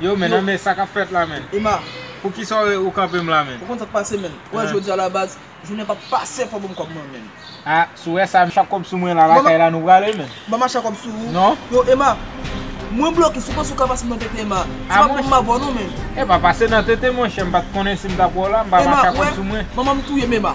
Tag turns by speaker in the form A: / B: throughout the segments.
A: Yo men nan men sa kap
B: fèt la men. Emma. Pou kisa
A: ou
B: kanpe m la men. Ou konn sak pase men. Wè
A: jodia la baz. Jounen pap pase fò banm kòb mwen men. Ah sou wè sa
B: machè kòb sou mwen la lakay la nou prale men. Banm machè kòb sou ou.
A: Non. Yo Emma. Mwen bloke si panse ou ka pase nan tete Emma. Se pa poum mabò non men. Epa pase nan tete
B: monchè m pat konnen sim tap wè w la m pa machè kòb sou mwen. Emma wè manmanm touyem Emma.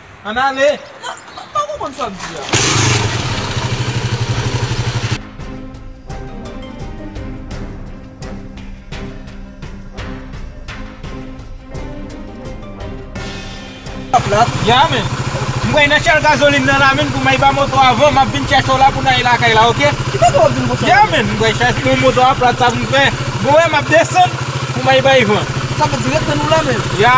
B: Ann ale! M pa konprann sa w di a. Ya men, m kwè nan chèl gazolin nan la menn pou may ba moto a van, m ap vin chèche w la pou n ale lakay la ok. Ki kote w ap vin pran? Ya men, m kwè chèche men moto a plat sa pou m fè. Bon wè m ap desann pou may bay van. Sa vle di ret tann w la
A: menn. Ya.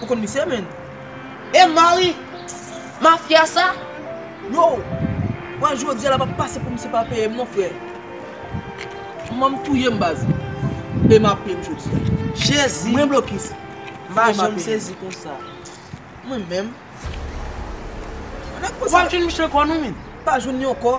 C: Ou konn
A: misye menn. E
C: Mari mafya sa? Yo!
A: Wè jodia la pap pase pou misye pa peyem non frè. Kman m touyem baz. Ema peyem jodia. Jezi! Mwen blokis. M pa janm
C: sezi konsa. Mwen menm. Wap jwenn misye kò nou menn. Pa jwenn yon kò.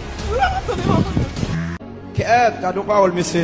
D: Kèèt
A: gadon
D: pawòl
A: mesye.